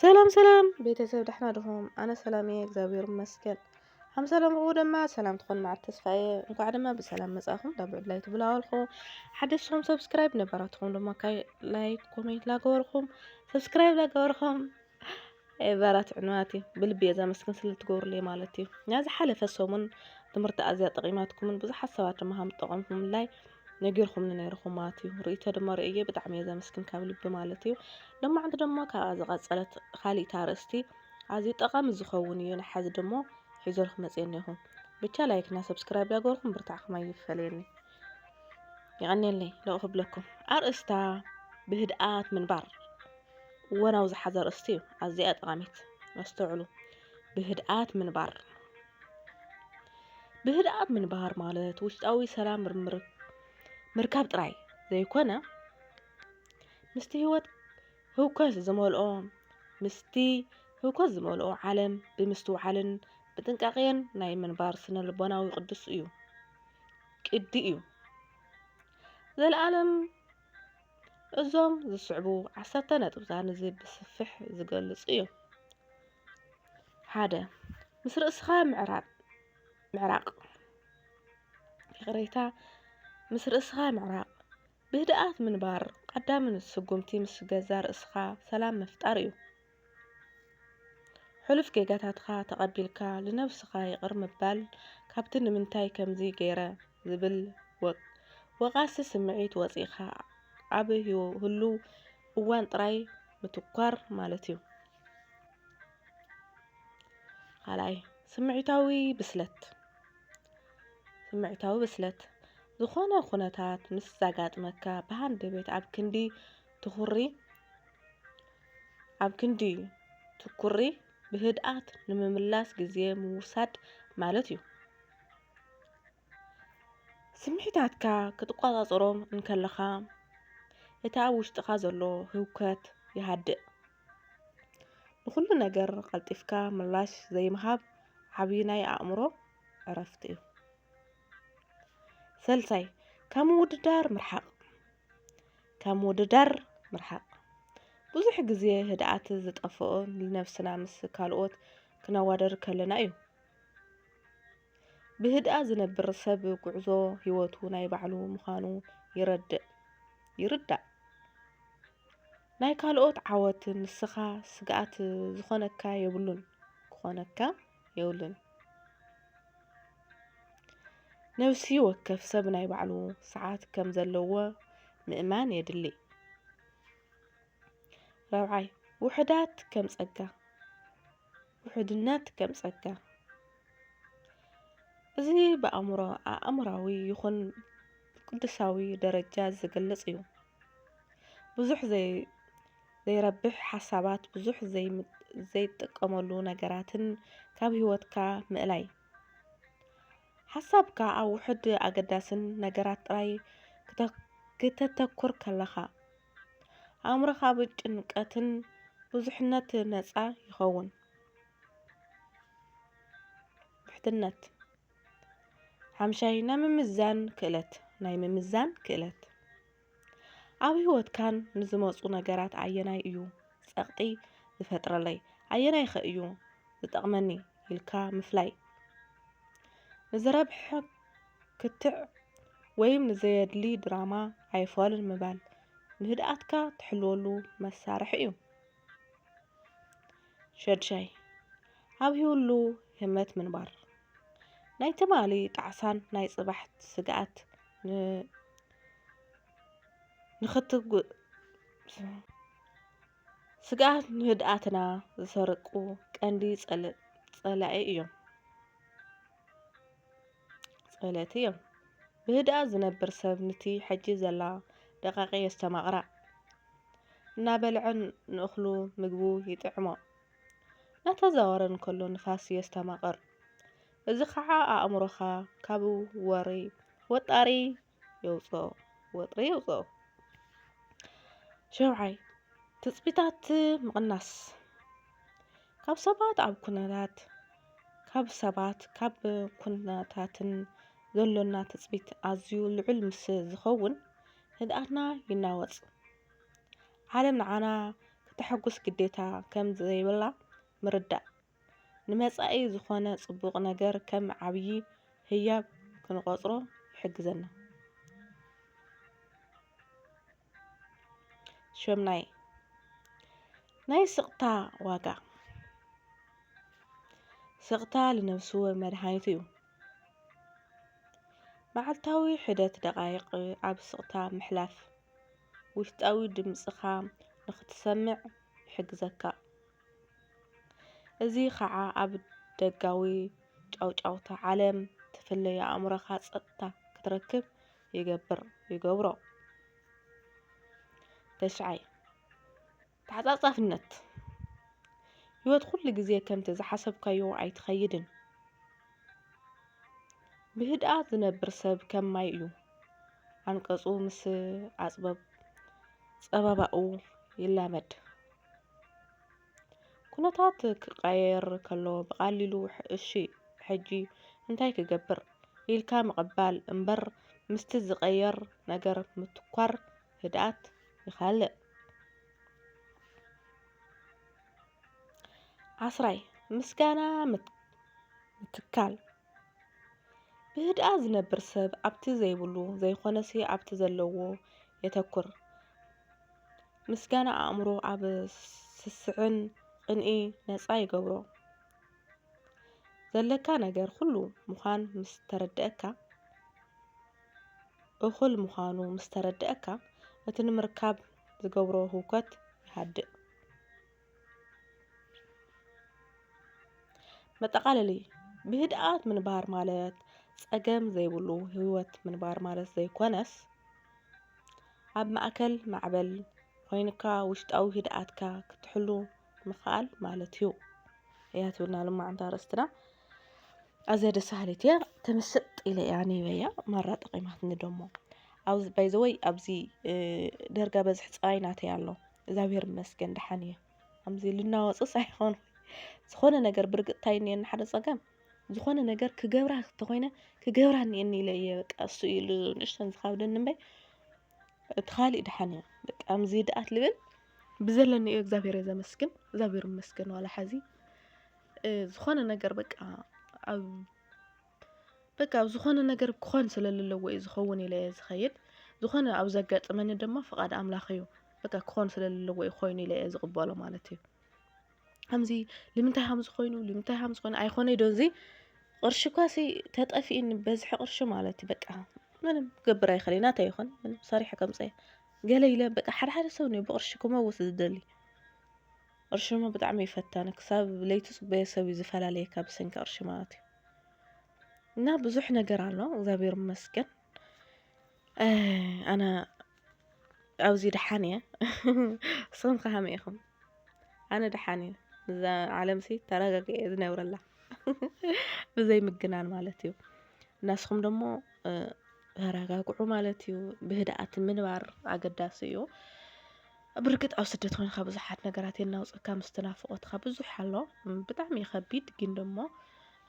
ሰላም ሰላም ቤተሰብ ደሕና ድኹም? ኣነ ሰላም እየ እግዚኣብሔር ይመስገን። ሓም ሰላም ርኡ ድማ ሰላም ትኾን መዓት ተስፋ እየ እንኳዕ ድማ ብሰላም መጻእኹም ናብ ዕድላይ ትብላወልኹ ሓደሽኹም ሰብስክራይብ ነበራትኹም ድማ ካይ ላይክ ኮሜንት ላገበርኹም ሰብስክራይብ ላገበርኹም ኤቨራት ዕንዋት እዩ ብልቢ እየ ዘመስግን ስለ እትገብሩለይ ማለት እዩ ናይ ዝሓለፈ ሰሙን ትምህርቲ ኣዝያ ጠቒማትኩምን ብዙሓት ሰባት ድማ ከም ዝጠቐምኩምላይ ነጊርኩምኒ ነይርኩም ማለት እዩ ርእይቶ ድማ ርእየ ብጣዕሚ እየ ዘመስግን ካብ ልቢ ማለት እዩ ሎማዕንቲ ድማ ካብኣ ዝቐፀለት ካሊእታ ኣርእስቲ ኣዝዩ ጠቓሚ ዝኸውን እዩ ንሓዚ ድሞ ሒዘልኩ መፅየ እኒኹ ብቻ ላይክና ሰብስክራይብ ዳገርኩም ብርታዕኩም ኣይፈለየኒ ይቐኒየለይ ለቑ ክብለኩም ኣርእስታ ብህድኣት ምንባር እወናው ዝሓዘ ኣርእስቲ እዩ። ኣዚያ እያ ጠቓሚት። ኣስተውዕሉ። ብህድኣት ምንባር ብህድኣት ምንባር ማለት ውሽጣዊ ሰላም ምርካብ ጥራይ ዘይኮነ ምስቲ ህይወት ህውከት ዝመልኦ ምስቲ ህውከት ዝመልኦ ዓለም ብምስትውዓልን ብጥንቃቄን ናይ ምንባር ስነ ልቦናዊ ቅዱስ እዩ ቅዲ እዩ ዘለኣለም እዞም ዝስዕቡ ዓሰርተ ነጥብታት ነዚ ብስፍሕ ዝገልጹ እዮም። ሓደ ምስ ርእስኻ ምዕራብ ምዕራቕ ይቕሬታ ምስ ርእስኻ ምዕራቕ ብህድኣት ምንባር ቀዳምን ስጉምቲ ምስ ገዛ ርእስኻ ሰላም ምፍጣር እዩ። ሕሉፍ ጌጋታትካ ተቐቢልካ ልነብስኻ ይቕር ምባል ካብቲ ንምንታይ ከምዚ ገይረ ዝብል ወቓሲ ስምዒት ወጺእካ ኣብ ህሉው እዋን ጥራይ ምትኳር ማለት'ዩ። ካልኣይ፣ ስምዒታዊ ብስለት ስምዒታዊ ብስለት፣ ዝኾነ ኩነታት ምስ ዛጋጥመካ ብሃንደበት ኣብ ክንዲ ትኹሪ ኣብ ክንዲ ትኩሪ ብህድኣት ንምምላስ ግዜ ምውሳድ ማለት እዩ። ስምዒታትካ ክትቆጻጸሮም እንከለኻ እቲ ኣብ ውሽጥኻ ዘሎ ህውከት ይሃድእ። ንኹሉ ነገር ቀልጢፍካ ምላሽ ዘይምሃብ ዓብዪ ናይ ኣእምሮ ዕረፍቲ እዩ። ሰልሳይ ካብ ምውድዳር ምርሓቕ ካብ ምውድዳር ምርሓቕ ብዙሕ ግዜ ህድኣት ዝጠፍኦ ንነብስና ምስ ካልኦት ክነዋደር ከለና እዩ። ብህድኣ ዝነብር ሰብ ጉዕዞ ህይወቱ ናይ ባዕሉ ምዃኑ ይረድእ ይርዳእ። ናይ ካልኦት ዓወት ንስኻ ስግኣት ዝኾነካ የብሉን ክኾነካ የብሉን። ነብሲ ወከፍ ሰብ ናይ ባዕሉ ሰዓት ከም ዘለዎ ምእማን የድሊ። ራብዓይ፣ ውሑዳት ከም ጸጋ፣ ውሑድነት ከም ጸጋ እዚ ብኣእምሮ ኣእምራዊ ይኹን ቅዱሳዊ ደረጃ ዝግለጽ እዩ። ብዙሕ ዘይ ዘይረብሕ ሓሳባት ብዙሕ ዘይትጥቀመሉ ነገራትን ካብ ህይወትካ ምእላይ። ሓሳብካ ኣብ ውሑድ ኣገዳስን ነገራት ጥራይ ክተተኩር ከለኻ፣ ኣእምሮኻ ኣብ ጭንቀትን ብዙሕነት ነጻ ይኸውን። ብሕትነት ሓምሻይ ናይ ምምዛን ክእለት ናይ ምምዛን ክእለት ኣብ ህይወትካን ንዝመጹ ነገራት ኣየናይ እዩ ጸቕጢ ዝፈጥረለይ ኣየናይኸ እዩ ዝጠቕመኒ ኢልካ ምፍላይ ንዝረብሐ ክትዕ ወይም ንዘየድሊ ድራማ ኣይፋሉን ምባል ንህድኣትካ ትሕልወሉ መሳርሒ እዩ ሸድሻይ ኣብ ህይወሉ ህመት ምንባር ናይ ትማሊ ጣዕሳን ናይ ጽባሕት ስግኣት ንኽትጉ ስግኣት ንህድኣትና ዝሰርቁ ቀንዲ ጸላኢ እዮም ጸለቲ እዮም ብህድኣት ዝነብር ሰብ ንቲ ሕጂ ዘላ ደቃቂ የስተማቕራ እናበልዐን ንእኽሉ ምግቡ ይጥዕሞ ናተዛወረ እንከሎ ንፋስ የስተማቕር እዚ ኸዓ ኣእምሮኻ ካብ ወሪ ወጣሪ የውፅኦ ወጥሪ የውፅኦ። ሸውዓይ ትፅቢታት ምቕናስ ካብ ሰባት ኣብ ኩነታት ካብ ሰባት ካብ ኩነታትን ዘሎና ትፅቢት ኣዝዩ ልዑል ምስ ዝኸውን ህድኣትና ይናወፅ። ዓለም ንዓና ክተሐጉስ ግዴታ ከም ዘይብላ ምርዳእ። ንመጻኢ ዝዀነ ጽቡቕ ነገር ከም ዓብዪ ህያብ ክንቖጽሮ ይሕግዘና። ሸምናይ፣ ናይ ስቕታ ዋጋ። ስቕታ ልነብሱ መድሃኒት'ዩ። መዓልታዊ ሒደት ደቓይቕ ኣብ ስቕታ ምሕላፍ፣ ውሽጣዊ ድምጽኻ ንኽትሰምዕ ይሕግዘካ። እዚ ኸኣ ኣብ ደጋዊ ጫውጫውታ ዓለም ትፍለዮ ኣእምሮኻ ጸጥታ ክትረክብ ይገብሮ። ተሽዓይ፣ ተዓጻጻፍነት፣ ህይወት ኩሉ ግዜ ከምቲ ዝሓሰብካዮ ኣይትኸይድን። ብህድኣት ዝነብር ሰብ ከም ማይ እዩ፣ ዓንቀጹ ምስ ኣጽበብ ጸበባኡ ይላመድ። ኩነታት ክቀያየር ከሎ ብቀሊሉ እሺ ሕጂ እንታይ ክገብር ኢልካ ምቅባል እምበር ምስቲ ዝቀየር ነገር ምትኳር ህድኣት ይካልእ። ዓስራይ፣ ምስጋና ምትካል፣ ብህድኣት ዝነብር ሰብ ኣብቲ ዘይብሉ ዘይኮነሲ ኣብቲ ዘለዎ የተኩር። ምስጋና ኣእምሮ ኣብ ስስዕን ቅንኢ ነጻ ይገብሮ። ዘለካ ነገር ኩሉ ምዃን ምስ ተረደኣካ እኹል ምዃኑ ምስ ተረደኣካ እቲ ንምርካብ ዝገብሮ ህውከት ይሃድእ። መጠቓለሊ፣ ብህድኣት ምንባር ማለት ጸገም ዘይብሉ ህይወት ምንባር ማለት ዘይኰነስ፣ ኣብ ማእከል ማዕበል ኰይንካ ውሽጣዊ ህድኣትካ ክትሕሉ ምኽኣል ማለት እዩ። እያ ትብልና ሎማዓንቲ ኣርእስትና። ኣዝያ ደስ በሃሊት እያ ተመሰጥ ኢለ እያ ኣንቢበያ ማራ ጠቒማትኒ ደሞ ኣብዚ ባይ ዘ ወይ ኣብዚ ዳርጋ በዝሒ ጥራይ ናተይ ኣሎ እግዛብሄር ይመስገን ደሓን እየ ከምዚ ልናወጽስ ኣይኮን ዝኾነ ነገር ብርግጽ እንታይ እዩ እኒኤኒ ሓደ ጸገም ዝኾነ ነገር ክገብራ እንተኾይነ ክገብራ እኒኤኒ ኢለ እየ በቃ እሱ እዩ ል- ንእሽተን ዝኻብደኒ እምበይ እቲ ካሊእ ደሓን እየ በቃ ከምዚ ደኣት ልብል ብዘለኒ እዩ እግዚኣብሄር እየ ዘመስግን እግዚኣብሄር ይመስገን ዋላ ሓዚ እ፣ ዝኾነ ነገር በቃ ኣብ በቃ ኣብ ዝኾነ ነገር ክኾን ስለ ዘለዎ እዩ ዝኸውን ኢለ እየ ዝኸይድ ዝኾነ ኣብ ዘጋጥመኒ ድማ ፍቓድ ኣምላኽ እዩ በቃ ክኾን ስለ ዘለዎ እዩ ኮይኑ ኢለ እየ ዝቕበሎ ማለት እዩ ከምዚ ልምንታይ ሃምዚ ኮይኑ ልምንታይ ሃምዚ ኮይኑ ኣይኮነ ዶ እዚ ቅርሺ እኳ ሲ ተጠፊእኒ በዝሒ ቅርሺ ማለት እዩ በቃ ምንም ክገብር ኣይኽእል እዩ ናተይ ይኹን ምንም ሰሪሐ ከምፀየ ገለ ኢለ በቃ ሓደ ሓደ ሰብ ኒ ብቅርሺ ክመውት ዝደሊ ቅርሺ እሞ ብጣዕሚ እዩ ፈታኒ ክሳብ ለይቲ ፅበዮ ሰብ እዩ ዝፈላለየካ ብሰንኪ ቅርሺ ማለት እዩ እና ብዙሕ ነገር ኣሎ እግዚኣብሔር ይመስገን ኣነ ኣብዚ ደሓን እየ ንስኹም ከ ከመይ ኢኹም ኣነ ደሓን እየ እዛ ዓለም ሲ ተረጋጊ እየ ዝነብረላ ብዘይ ምግናን ማለት እዩ እናስኹም ደሞ ተረጋግዑ ማለት እዩ ብህድኣት ምንባር ኣገዳሲ እዩ ብርግጽ ኣብ ስደት ኮይንካ ብዙሓት ነገራት የናውጸካ ምስቲ ናፍቆትካ ብዙሕ ኣሎ ብጣዕሚ እዩ ከቢድ ግን ደሞ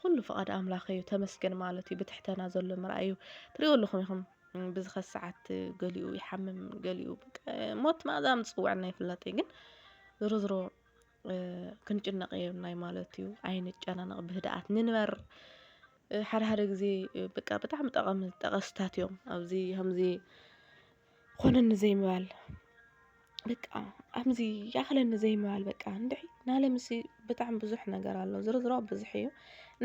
ኩሉ ፍቓድ ኣምላኽ እዩ ተመስገን ማለት እዩ ብትሕተና ዘሎ ምርኣይ እዩ ትሪእዎ ኣለኹም ኢኹም ብዝኸ ሰዓት ገሊኡ ይሓምም ገሊኡ ሞት ማእዛ ምጽውዐና ይፍለጥ እዩ ግን ዝሮ ዝሮ ክንጭነቕ የብናይ ማለት እዩ ኣይንጨናነቕ ብህድኣት ንንበር ሓደ ሓደ ግዜ በቃ ብጣዕሚ ጠቐሚ ጠቐስታት እዮም ኣብዚ ከምዚ ኾነኒ ዘይምባል በቃ ኣምዚ ያኽለኒ ዘይምባል በቃ እንድዒ ናለምሲ ብጣዕሚ ብዙሕ ነገር ኣሎ ዝርዝሮ ብዙሕ እዩ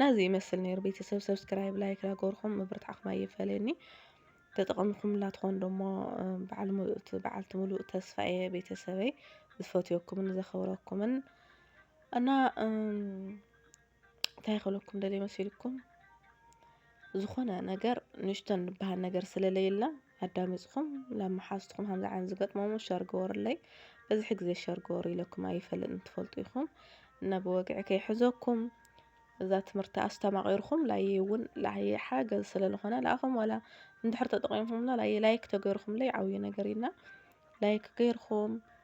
ናዚ ይመስል ነይሩ ቤተሰብ ሰብስክራይብ ላይክ ዳገበርኩም ምብርታዕኹም ኣይፈለየኒ ተጠቐምኩም ላትኾን ደሞ በዓል ምሉእቲ በዓልቲ ምሉእ ተስፋ እየ ቤተሰበይ ዝፈትዮኩምን ዘኸብረኩምን እና እንታይ ክብለኩም ደልየ መሲልኩም ዝኾነ ነገር ንእሽተን ዝበሃል ነገር ስለለየላ ኣዳሚፅኹም ናብ መሓዝትኹም ከምዚ ዓይነት ዝገጥሞሞ ሸር ግበሩለይ በዝሒ ግዜ ሸር ግበሩ ኢለኩም ኣይፈልጥን ትፈልጡ ኢኹም እና ብወግዒ ከይሕዘኩም እዛ ትምህርቲ ኣስተማቒርኩም ላየ እውን ላየ ሓገዝ ስለዝኾነ ንኣኹም ዋላ እንድሕር ተጠቒምኩምና ላየ ላይክ ተገይርኩምለይ ዓብዪ ነገር እዩና ላይክ ገይርኩም